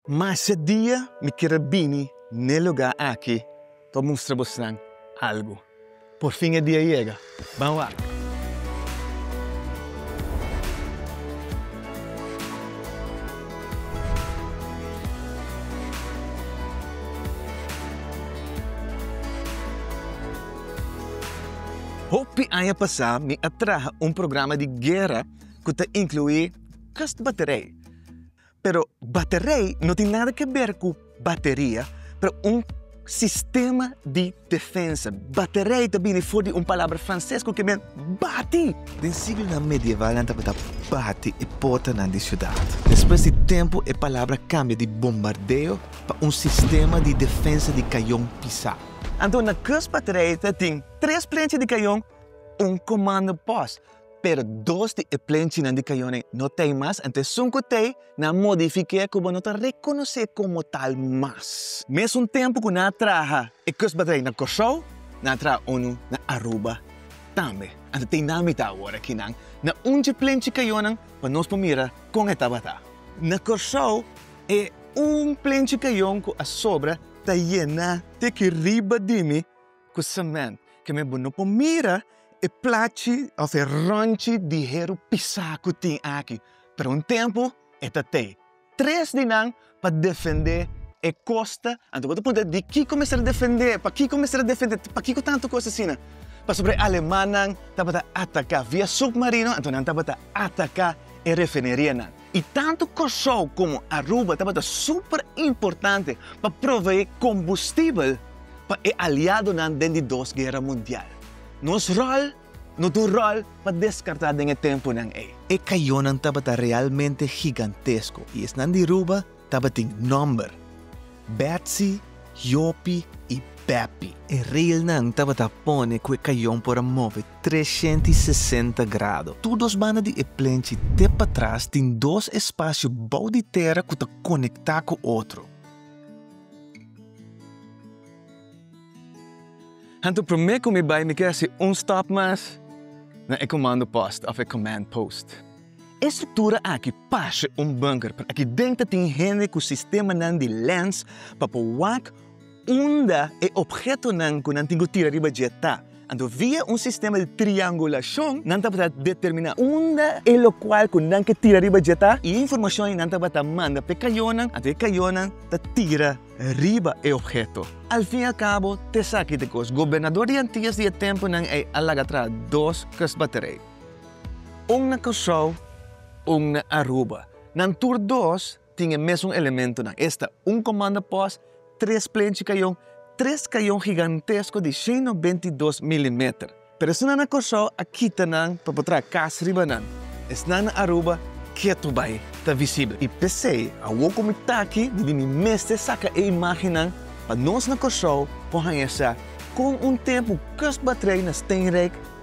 Mas e dia mi kier a bini n'e lugá aki pa mustra bosnan algu. Por fin e dia yega. Ban wak. Hopi aña pasá mi a traha un programa di guera ku ta inkluí kustbaterij. Pero baterei no tin nada ke ber ku bateria, pero un sistema di defensa. Baterei ta bini for di un palabra franses ku ke men bati. Den siglonan medieval nan tabata bati e portanan di siudat. Despues di tempu e palabra kambia di bombardeo pa un sistema di defensa di kayon pisá. Anto na kusbaterei ta tin tres plenchi di kayon, un komando pos. Pero dos di e plenchinan di kayonen no t'ei mas, anto esun ku t'ei, nan a modifik'é ku bo no ta rekonosé komo tal mas. Mesun tempu ku nan a traha e kustbedrijf na Kòrsou, nan a traha unu na Aruba tambe. Anto t'ei nan mitá awor aki nan na ungí plenchi kayonan pa nos por mira kon e tabata. Na Kòrsou, e un plenchi kayon ku a sobra ta yená te ki riba di mi ku semènt, ke men bo no por mira e plachi òf e rònchi di heru pisá ku tin aki, pero un tempu e ta tei. Tres di nan pa defendé e kosta, anto bo ta punta dikiko mester a defendé, pakiko mester a defendé, pakiko tantu kos asina? Pasobra e alemannan tabata ataká via submarino, anto nan tabata ataká e refinerianan. I tantu Kòrsou komo Aruba tabata super importante pa proveé kombustibel pa e aliadonan den di Dos Guera Mundial. Nos ròl no ta un ròl pa deskartá den e tempunan ei. E kayonan tabata realmente gigantesko i esnan di Ruba tabatin nòmber, Bètsi, Yopi i Bèpi. E reilnan tabata pone ku e kayon por a move treshent i sesenta grado. Tur dos banda di e plenchi te patras tin dos espasio bou di tera ku ta konektá ku otro. Anto promé ku mi bai mi ke hasi un stòp mas na e komando pòst òf e kòmand pòst. E struktura aki parse un bunker pero aki den ta tin hende ku sistemanan di lens pa por wak Unda e obhetonan ku nan tin ku tira riba dje ta, anto via un sistema di triangulashon nan tabata determiná unda e lokual ku nan ke tira riba dje ta i e informashon ei nan tabata manda pa e kayonan, anto e kayonan ta tira riba e obheto. Al fin i al kabo t'esaki ta kos gobernador di Antias di e tempunan ei a laga traha dos kustbaterij, un na Kòrsou, un na Aruba. Nan tur dos tin e mesun elementonan. Esta, un komando pos, tres plenchi kayon, tres kayon higantesko di sheno bentidos milimeter. Pero esnan na Kòrsou a kita nan pa por traha kas riba nan. Esnan na Aruba ketu bai ta visibel. I p'esei, awor ku mi ta aki, mi bin di mester saka e imágennan pa nos na Kòrsou por haña sa kon un tempu kus batrei na Steenrijk,